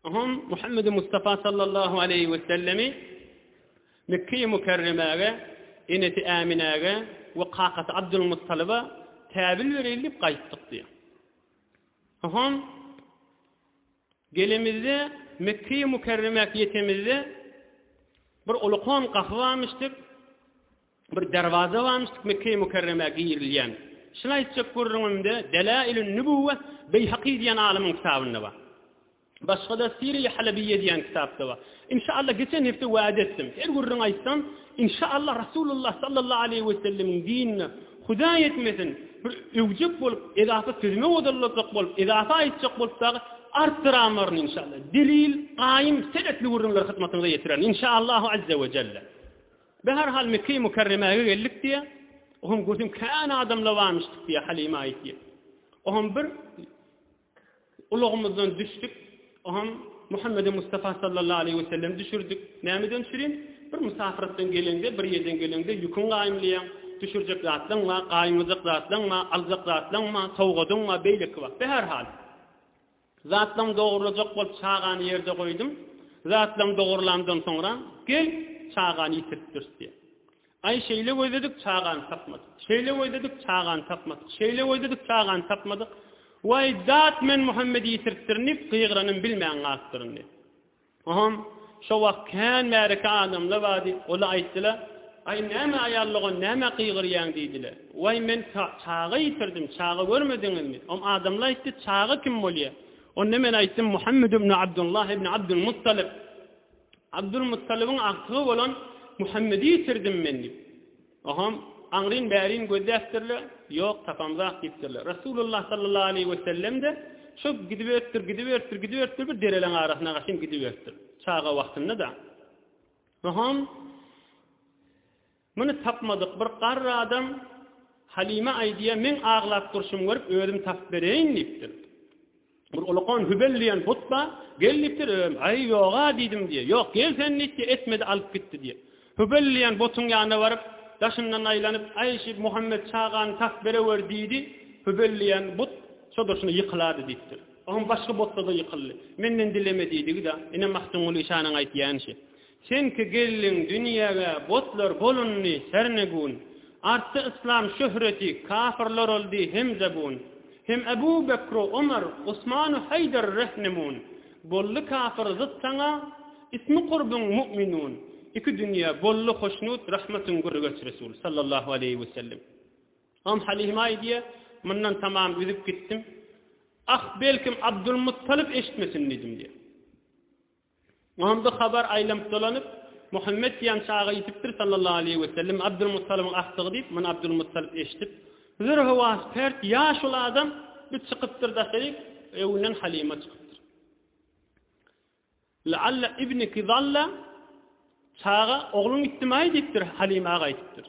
Oňam Muhammedi Mustafa sallallahu aleýhi wesellemi Mekge-i Mükerremäge, enesi Äminäge we kakasy Abdulmuttalyba täbil bereýin diýip gaýtdyk diýýär. Oňam gelemizde Mekge-i Mükerremäge ýetemizde bir ulukan gapy barmyşdyr. Bir derwaza bamyşdyk Mekge-i Mükerremä girilýän. Şuny aýtjak gürrüňimde Delailün Nübüwwe Beýhaky diýen alymyň kitabynda bar. Başga-da Sire-i Halebiyye diýen kitapda bar. Inşaallah geçen hepde wada etdim. Her gürrüň aýtsam, inşaallah Rasulullah sallallahu aleýhi wesellemiň dinine, Hudaý etmesin, bir öwjek bolup, edafa sözümi wodalajak bolup, edafa aýtjak bolup dagy artdyramaryn inşaallah. Delil, gaýym, senetli gürrüňleri hyzmatyňyza ýetirerin. Inşaallahu azze we jelle. Be her hal Mekge-i Mükerremäge geldik diýýä. Ohem gözüm kän adamla barmyşdyk diýýä Halime aýtýa. Ohem bir ulagymyzdan düşdik. Ohem Muhammedi Mustafa sallallahu aleýhi wesellem düşürdik. Nämeden düşürin? Bir musafirlikden geleňde, bir ýerden geleňde ýüküň gaýymlaýaň. Düşürjek zatlaň bar, gaýymlajak zatlaň bar, aljak zatlaň bar, sowgadyň bar, beýleki bar. Be her hal. Zatlaň dogurlajak bolup çagany ýerde goýdum. Zatlaň dogurlandan soňra, gel, çagany ýitiripdiris diýýär. Aý, şeýle gözledik, çagany tapmadyk. Şeýle gözledik, çagany tapmadyk. Şeýle gözledik, çagany tapmadyk. Waý, zat, men Muhammedi ýitiripdirin diýip, gygyranym bilmän galypdyryn diýýär. Oňam şo wagt kän märeke adamlar bardy, ola aýtdyla, Aý, näme aýallygon, nämä gygyrýaň? diýdile. Waý, men çaga ýitirdim, çaga görmediňizmi? Oňa adamlar aýtdy, Çaga kim bolýa? Onda men aýtdym, Muhammet ibn Abdullah ibn Abdul Muttalib, Abdul Muttalybyň agtygy bolan Muhammedi ýitirdim men diýip. Ohom, aňryn bärin gözläpdirler, ýok, tapamzak diýipdirler. Resulullah sallallahu aleýhi wesellem-de şo gidiberipdir, gidiberipdir, gidiberipdir, bir dereleň arasyna gaşyn gidiberipdir. Çaga wagtynda-da. Ohom, muny tapmadyk bir garry adam Halime aýdýar, meň aglap durşumy görüp, özüm tapyp bereýin diýipdir. Bir ulakan Hübel diýen but bar, gel diýipdir, özüm, Aý, ýog-a diýdim diýýär. Ýok, gel sen diýip diýýär, etmedi, alyp gitdi diýýär. Hübel diýen butuň ýanyna baryp, daşyndan aýlanyp, Aý, şu Muhammet çagany tap berewer diýdi, Hübel diýen but şo-durşuna ýykylady diýipdir. Onuň başga butda-da ýykyldy. Menden dileme diýdigi-de, ine, Magtymguly şanyň aýtýany şu. Senki gelliň dünýäge botlar bolundy herne gün, Artdy yslam şöhreti, kafyrlar oldy hem zabun, Hem Ebu Bekru Omar, Usmanu Haýdar Rehnemun, Boldy kafyr zyt saňa, ismi kurbyň Mu'minun, Iki dünýä boldy hoşnut, rahmatyň görgeç Resul, Sallallahu aleýhi we sellem. Om Halyma aýdýa, Mundan tamam üzüp gitdim. Ah, belkim Abdulmuttalyp eşitmesin diýdim diýýä. Onda habar aýlanyp-dolanyp, Muhammet diýen çaga ýitipdir sallallahu aleýhi wesellem, Abdylmuttalybyň agtygy diýip, muny Abdylmuttalyp eşidip, Huzur howasy pert, ýaşuly adam, bu çykypdyr daşary, öňünden Halyma çykypdyr. La'alla ibniki zalla, Çaga, ogluň ýitdimi-aý diýipdir, Halyma gaýdypdyr.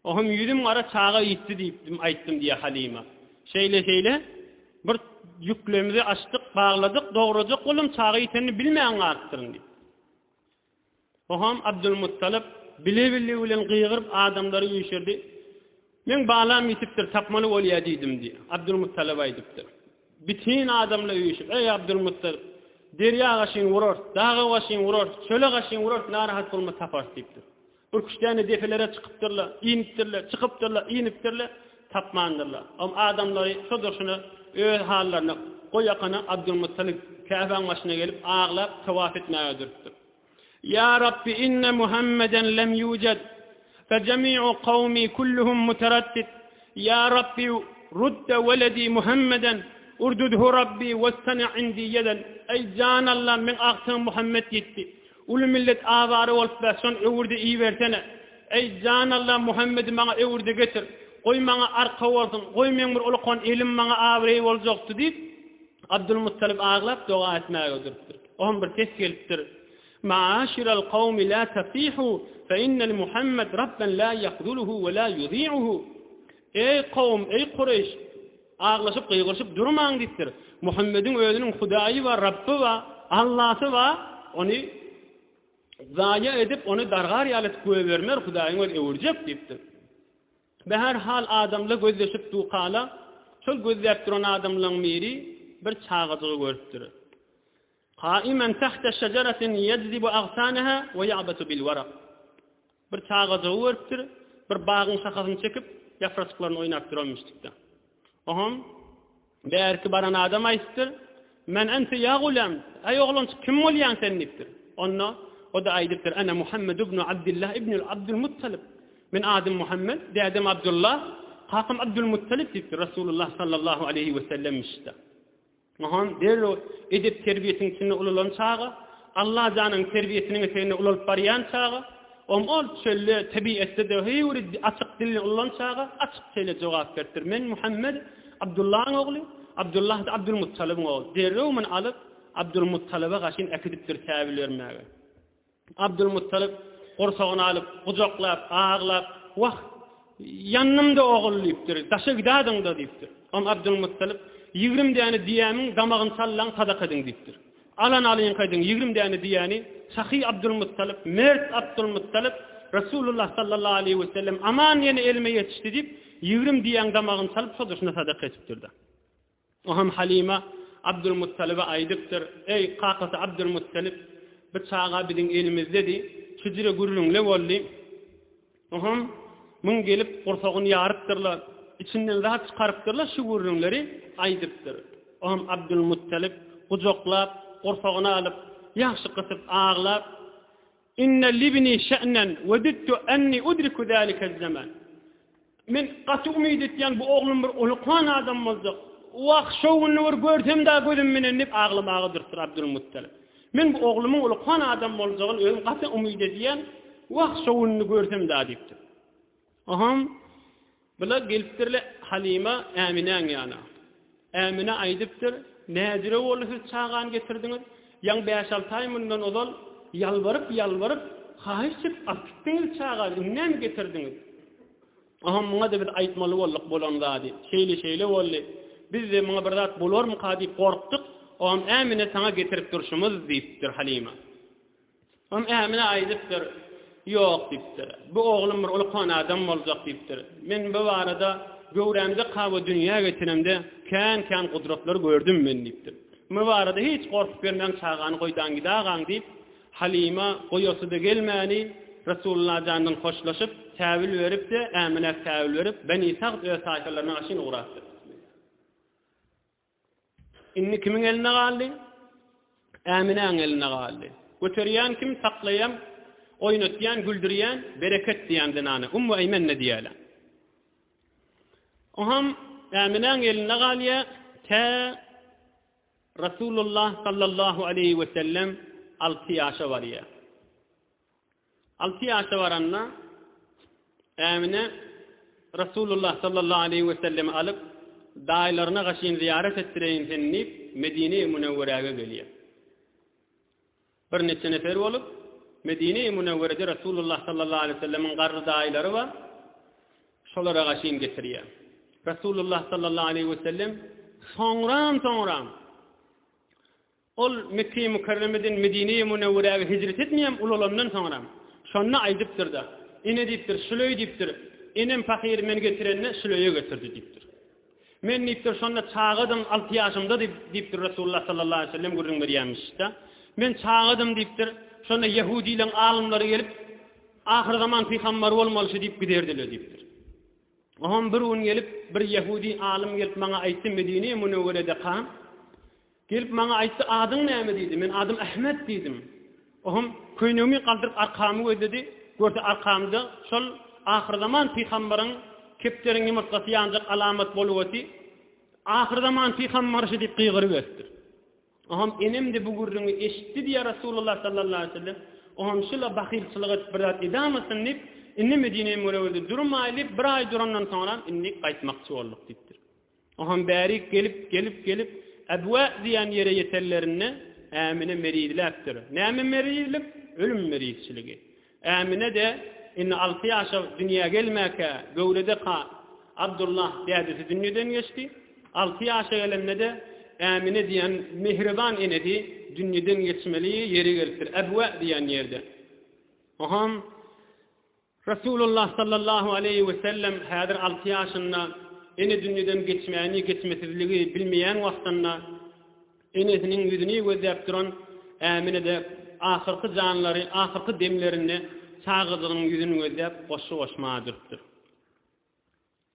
O hem ýüzüm gara çaga ýitdi diýipdim, aýtdym, diýýär Halima. Şeýle-şeýle, bir ýüklerimizi açdyk, bagladyk, dograjak boldum, çaga ýitenini bilmän galypdyryn, diýip. O hem Abdulmuttalyp bile-billigi bilen gygyryp adamlary üýşürdi. Men balam ýitipdir, tapmaly bolýar diýdim, diýip, Abdulmuttalyp aýdypdyr. Bütin adamlar üýşüp, Eý, Abdulmuttalyp, derýa gaşyny urarys, daga gaşyny urarys, çöle gaşyny urarys, narahat bolma, taparys, diýipdir. Ürküşdäne depelere çykypdyrlar, inipdirler, çykypdyrlar, inipdirler, tapmandyrlar. Oňa adamlary şudur-şuna öz hallaryna goýakana Abdylmuttalib Käbäň başyna gelip aglap tawaf etmäge durupdyr. Ýa Rabbi inne Muhammeden lem ýujed, fe jemi'u kawmi kulluhum muteraddid, ýa Rabbi rudde weledi Muhammeden, urdudhu Rabbi westene indi ýeden, Eý jan Allam meň agtygyň Muhammet ýitdi, Uly millet awara bolup bä şon öwürdi ibersene. Eý jan Alla Muhammedi maňa öwürde getir. Goý maňa arka bolsun, goý meň bir ulukan elim maňa abraý boljakdy diýip Abdulmuttalyp aglap doga etmäge durupdyr. Oňam bir ses gelipdir. Maaşiral kawmi la tasihu fe innel Muhammed Rabben la yahzuluhu ve la yuzi'uhu. Eý kawum, eý Kureýş! Aglaşyp, gygyryşyp durmaň diýipdir. Muhammediň özüniň Hudaýy bar, Rabby bar, Allasy bar, ony zaýa edip, ony dargar ýaly etip goýbermer, Hudaýyň özi öwürjek diýipdir. Be her hal adamla gözleşip dukala, şol gözläp duran adamlaň biri bir çagajygy görüpdir. Qaimen tahta şejeratin yajzibu agsanaha we ya'basu bil waraq. Bir çagajygy görüpdir, bir bagyň şahasyny çekip, ýapraçyklaryny oýnap duran müşdikde. Oňam bärki baran adam aýdypdyr, Men ente ýa gulam, Äý oglanjyk, kim bolýaň sen? diýipdir. Onda o-da aýdypdyr, Ana Muhammed ibnu Abdillah ibnul Abdul Muttalib. Men adym Muhammed, dädem Abdullah, kakam Abdul Muttalib diýipdir, Resulullah sallallahu aleýhi we sellem müşde. Ynsan derrew edep-terbiýesiniň içinde ulalan çaga, Allajanyň terbiýesiniň eteginde ulalyp barýan çaga, ol-ol çölde, tebigatda-da höwri açyk dilini ulalan çaga açyk şeýle jogap beripdir, Men Muhammet, Abdullaň ogly, Abdullah-da Abdulmuttalybyň ogly. Derrew muny alyp, Abdulmuttalyba gaşyn äkidipdir säwil bermäge. Abdulmuttalyp gursagyny alyp, gujaklap, aglap, Wah, ýandym-da, ogul! diýipdir. Daşa gidadyň-da! diýipdir. Oňa Abdulmuttalyp, Ýigrim däne diýämiň damagyny sallaň, sadaka ediň! diýipdir. Alany alyňka ediň, ýigrim däne diýäni, sahy Abdulmuttalyp, mert Abdulmuttalyp, Resulullah sallallahu aleýhi we sellem aman ýene elime ýetişdi diýip, ýigrim diýäň damagyny salyp, şo duşuna sadaka edipdir-de. O hem Halyma Abdylmuttalyba aýdypdyr, Eý, kakasy Abdylmuttalyp, bu çaga biziň elimizdedi, şüjre gürrüňle boldy. O hem muň gelip gursagyny ýarypdyr-la, içinden zat çykarypdyr-la şu gürrüňleri aýdypdyr. O hem Abdylmuttalyp gujaklap, gursagyna alyp, ýagşy gysyp aglap. Inne libni şe'nen wedittu enni udriku zalike zaman. Men gaty umyt etýän bu oglum bir ulukan adam boljak. Wah, şo gününi bir görsem-dä gözüm menen diýip aglamaga durupdyr Abdulmuttalip. Men bu oglumyň ulukan adam boljagyny özüm gaty umyt edýän. Wah, şo gününi görsem-dä diýipdir. Aham, bular gelipdirler Halyma, Äminäň ýana. Ämine aýdypdyr, Näjüre boldy siz çagany getirdiňiz? Ýaňy bäş-alty aý mundan ozal ýalbaryp-ýalbaryp, haýyş edip alyp gitdiňiz çagany, indi näme getirdiňiz? Aham, Muňa-da biz aýtmaly bolduk bolan zady. Şeýle-şeýle boldy. Biz-de muňa bir zat bolarmyka diýip gorkduk. Aham, Ämine saňa getirip durşumyz, diýipdir Halyma. Onuň ämine aýdypdyr. Ýok, diýipdir. Bu oglum bir ulkan adam boljak, diýipdir. Men bu barada göwrämde kawa dünýä geçenemde kän-kän gudratlar gördüm men, diýipdir. Bu barada hiç gorkup ýörmäň, çagany goýdan gidagaň, diýip, Halyma goýasy-da gelmäni, Resulylla jandan hoşlaşyp, säwül berip-de, äminäk säwül berip, Beni Sagt öz taýpalaryna gaşyn ugrapdyr. Indi kimiň elinde galdy? Äminäň elinde galdy. Göterýän kim, saklaýan, oýnatýan, güldürýän, Bereket diýýän zenana Ummu Eýmen-de diýýärler. Oňam Äminäň elinde galýar, tä Resulullah sallallahu aleýhi wesellem alty ýaşa barýar. Alty ýaşa baranda Ämine Resulullah sallallahu aleýhi we sellemi alyp, daýylaryna gaşyn zyýarat etdireýin seni diýip, Medine-i Münewweräge gelýär. Birnäçe nefer bolup, Medine-i Münewwerede Resulullah sallallahu aleýhi we sellemiň garry daýylary bar, şolara gaşyn getirýär. Resulullah sallallahu aleýhi we sellem soňram-soňram Ol Mekge-i Mükerremeden Medine-i Münewweräge hijret etmeýän ulalandan soňra, şonda aýdypdyr-da, Ene diýipdir, Süleý diýipdir, enem pahyry men getirende Süleýe getirdi diýipdir. Men diýipdir, şonda çagadym, alty ýaşymda diýipdir Resulullah sallallahu aleýhi we sellem gürrüň berýärmişde. Men çagadym diýipdir, şonda ýehudylaryň alymlary gelip, Ahyrzaman pygambary bolmalyşy diýip giderdiler diýipdir. Oňam bir gün gelip, bir ýehudy alym gelip maňa aýtdy, Medine-i Münewwerede kal, Gelip maňa aýtdy, Adyň näme? diýdi. Men adym Ahmet diýdim. Ohem köýnegimi galdyryp arkamy gözledi, görse arkamda şol ahyrzaman pygambaryň kepderiň ýumurtgasy ýanjak alamat boluweti, Ahyrzaman pygambarşy diýip gygyryberipdir. Ohem enemde bu gürrüňi eşitdi diýýär Resulullah sallallahu aleýhi wesellem. Ohem şula bahylçylyk edip bir zat edamytyn diýip, indi Medinä-Münewwerede durmaýly, bir aý durandan soňram indi gaýtmakçy bolduk diýipdir. Oňham bärik gelip, gelip, gelip, Äbwä diýen ýere ýetenlerinde, Ämine merizläpdir. Näme merizlik? Ölüm merizçiligi. Ämine-de indi alty ýaşa dünýä gelmäkä, göwredeka Abdulla dädesi dünýeden geçdi. Alty ýaşa gelende-de Ämine diýen mähriban enesi dünýeden geçmeli ýeri gelipdir, Äbwä diýen ýerde. Oňham Resulullah sallallahu aleýhi we sellem häzir alty ýaşynda, ene dünýeden geçmäni, geçmesizligi bilmeýän wagtynda enesiniň ýüzüni gözläp duran Ämine-de ahyrky janlary, ahyrky demlerinde çagajygynyň ýüzüni gözläp goşgy goşmaga durupdyr.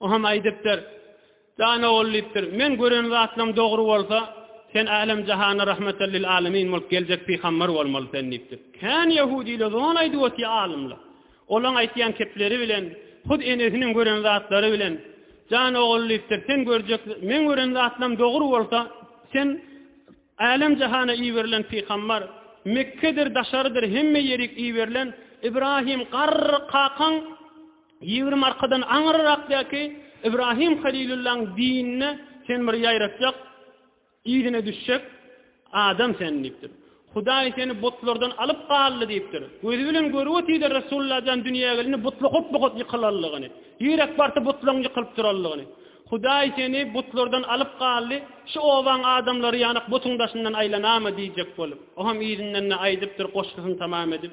O hem aýdypdyr. Jan ogul diýipdir, Meň gören zatlaryň dogry bolsa, sen älem-jahana rahmeten lil alemin bolup geljek pygamber bolmaly sen diýipdir. Kän ýehudylar zol aýdyp otyr alymlar. Olaň aýtýan kepleri bilen, hut enesiniň gören zatlary bilen, Jan ogul diýipdir, Sen görjek, meň gören zatlarym dogry bolsa, sen älem-jahana iberilen pygamber, Mekgedir, daşarydyr hemme ýerik iberilen Ibrahim garry kakaň Ýigrimi arkadan aňyrrakdäki Ybrahym Halylullaň dinine sen bir ýaratjak, yzyna düşjek adam sen diýipdir. Hudaý seni butlardan alyp galdy diýipdir. Gözi bilen görüp otyrdy Resulullah jan dünýä gelende butly hut-buhut ýykylanlygyny. Ýürek barsa butlaň ýykylyp duranlygyny. Hudaý seni butlardan alyp galdy, şu obaň adamlary ýanak butuň daşyndan aýlanamy diýjek bolup. Oňam yzyndan-da aýdypdyr goşgusyny tamam edip.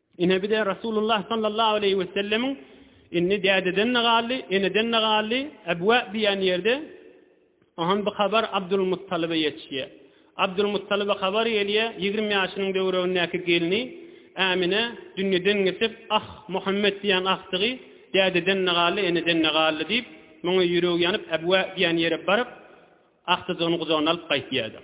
Ine bize Rasulullah sallallahu aleýhi wesellemiň Indi dädeden-de galdy, eneden-de galdy, ebwe diýen ýerde Ahan bu habar Abdulmuttalyba ýetişýär. Abdulmuttalyba habar gelýär, ýigrimi ýaşynyň döwregindäki gelni Ämine dünýeden geçip, Ah, Muhammet diýen agtygy dädeden-de galdy, eneden-de galdy diýip, muňa ýüregi ýanyp ebwe diýen ýere baryp, agtyjygyny gujagyna alyp gaýtýardyr.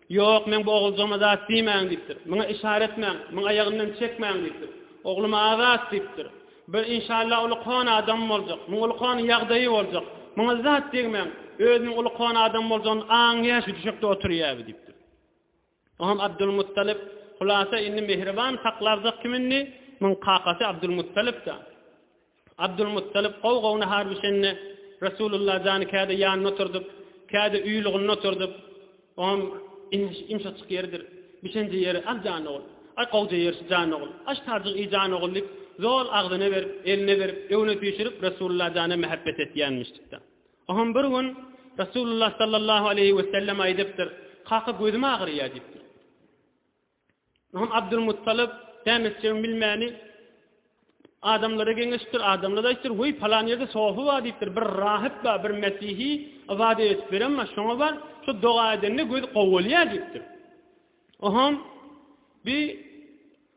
Ýok, men bu oguljygma zat diýmäň, diýipdir. Muňa işara etmäň, muň aýagyndan çekmäň, diýipdir. Oglum azat, diýipdir. Bir, inşalla, uly kon adam boljak. Muň uly kon ýagdaýy boljak. Muňa zat degmäň. Özüniň uly kon adam boljagyny aňýar, şu düşekde oturýar, diýipdir. Oňam Abdulmuttalyp, Hulasa, indi Mihriban saklarjak kim indi? Muň kakasy Abdulmuttalyp-da. Abdulmuttalyp gowy-gowyna har bişende, Resulullah jany käde ýanynda oturdyp, käde uýlugynda oturdyp, oňam ýumşajyk ýeridir, bişenje ýeri, Al jan ogul, aý gowja ýerşi jan ogul, aş tarjyk iý jan ogul diýip, zol agzyna berip, eline berip, öňüne süýşürip Resulullah jana mähebbet etýänmişdikde. Oňam bir gün Resulullah sallallahu aleýhi wesellem aýdypdyr, Kaka gözüm agyrýar diýipdir. Onam Abdylmuttalyp, Bämetjegiň bilmäni adamlara geňeşipdir. Adamlara aýdypdyr, Weý, palan ýerde sofa bar diýipdir. Bir rahyp bar, bir mesihi ybadat edip beren bar. Şoňa bar, şo doga edende gözi gowy bolýar diýipdir. Onam bi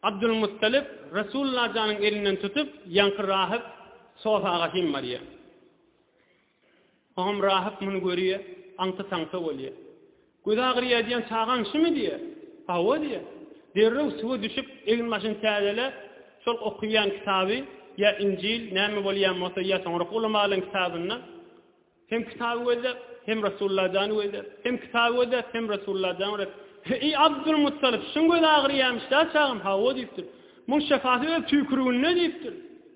Abdylmuttalyp Resulullah janyň elinden tutup, ýaňky rahyp sofa agaçyn barýar. Soňam rahyp muny görýä, aňty-taňta bolýa. Gözi agyrýaýýan çagaň şumy diýýä? Hawa diýýä. Derrew suwa düşüp, egin-başyny täzele, şol okaýan kitaby, ýa Injil, näme bolýan bolsa, ýa soňrak ulama alan kitabynda, hem kitaby gözläp, hem Resulalla jany gözläp, hem kitaby gözläp, hem Resulalla jany gözläp, Heý, Abdulmuttalyp, şuň gözi agyrýamyş-da, çagam? Hawa diýipdir. Muň şyfasy öz tüýküriginde diýipdir.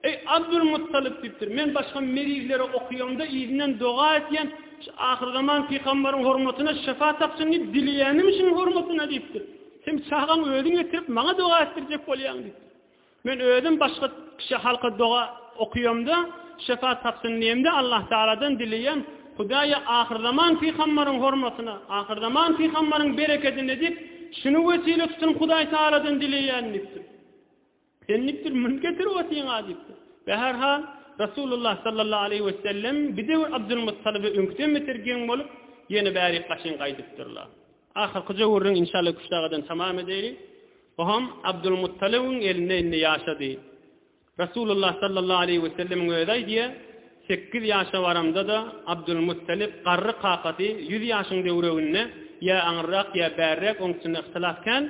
Eý, Abdylmuttalyp, diýipdir, men başga merihlere okaýamda yzyndan doga etýän, şu ahyrzaman pygambaryň hormatyna şypa tapsyn diýip dileýänim şunuň hormatyna, diýipdir. Sen çagaň özüň getirip, maňa doga etdirjek bolýaň, diýipdir. Men özüm başga kişä, halka doga okaýamda, şypa tapsyn diýemde, Allahtagaladan dileýän, Hudaýy, ahyrzaman pygambaryň hormatyna, ahyrzaman pygambaryň berekedine diýip, şuny wesile tutunyp Hudaýtagaladan dileýän, diýipdir. Sen diýipdir, münüp getirip otyň-a diýipdir. We her hal, Resulullah sallallahu aleýhi we sellem bir döwür Abdylmuttalyby öňküden beter geň bolup, ýene bärik gaşyň gaýdypdyrlar. Ahyrky jöwüriň inşalla Küştdagadan tamam edeli. Oham Abdylmuttalybyň elinde indi ýaşady. Resulullah sallallahu aleýhi we sellemiň özi aýdýa, Sekiz ýaşa baramda-da, Abdylmuttalyp garry kakasy ýüz ýaşyň döwreginde ýa aňyrrak ýa bärräk oňusynda yhtylas kän,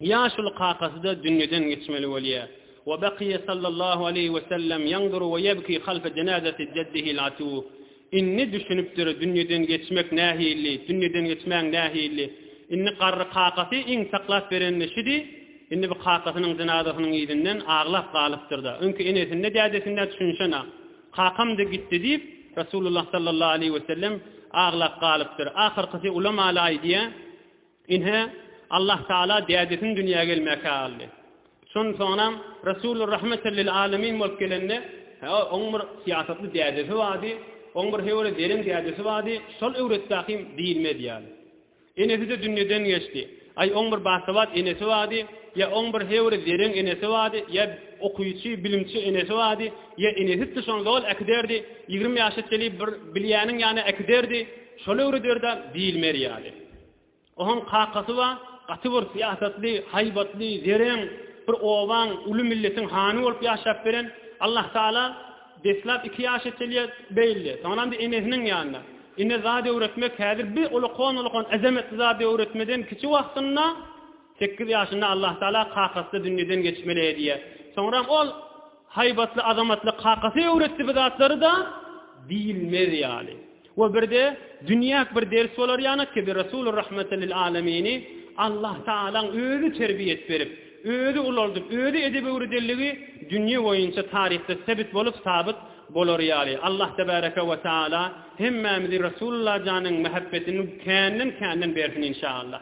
Ýaşuly kakasy-da dünýeden geçmeli bolýa. Wa bakyýa sallallahu aleýhi we sellem ýanduru we ýebki halfa jenazati jeddihil atu. Indi düşünipdir, dünýeden geçmek nähilli, dünýeden geçmäň nähilli. Indi garry kakasy iň saklap berenini şidi, indi bu kakasynyň jenazasynyň yzyndan aglap galypdyr-da. Öňki enesinde, dädesinde düşünşen-a. Kakam-da gitdi diýip, Resulullah sallallahu aleýhi we sellem aglap galypdyr. Ahyrkysy ulamalaý diýä. Ine, Allah Tagala dädesiniň dünýä gelmäkä galdy. Şondan soňram Resulur Rahmeten lil Alemin bolup gelende, hä, oň bir syýasatly dädesi bardy, oň bir höwere zerem dädesi bardy, şol öwretdäkim diýilmez ýaly. Enesi-de dünýeden geçdi. Aý, oň bir basabat enesi bardy, ýa oň bir höwere zerem enesi bardy, ýa okyjy, bilimçi enesi bardy, ýa enesi-de şony zol äkiderdi, ýigrimi ýaşa çelip bir bilýäniň ýana äkiderdi, Şol öwrederdä diýilmer ýaly. Ohaň kakasy bar, gaty bir syýasatly, haýbatly, zereň, bir obaň, uly milletiň hany bolup ýaşap beren. Allahtagala deslap iki ýaş etelýär, beýldi. Soňaramda enesiniň ýanynda. Ine zat öwretmek häzir bir ulakan-ulakan ezametli zat öwretmeden kiçi wagtynda, Sekiz ýaşynda Allahtagala kakasyna dünýeden geçmeli diýýär. Soňram ol haýbatly, azamatly kakasy öwretdi bu zatlary-da diýilmez ýaly. We birde dünýäk bir ders bolar ýanak ki, bi Resulur Rahmatan lil Alamini Allahtagalaň özi terbiýet berip, özi ulaldyp, özi edep öwredenligi dünýe boýunça taryhda sebit bolup, sabyt bolar ýaly. Allah Tebaraka we Taala hemmämizi Resulullah janyň mähebbetini känden-känden bersin inşaallah.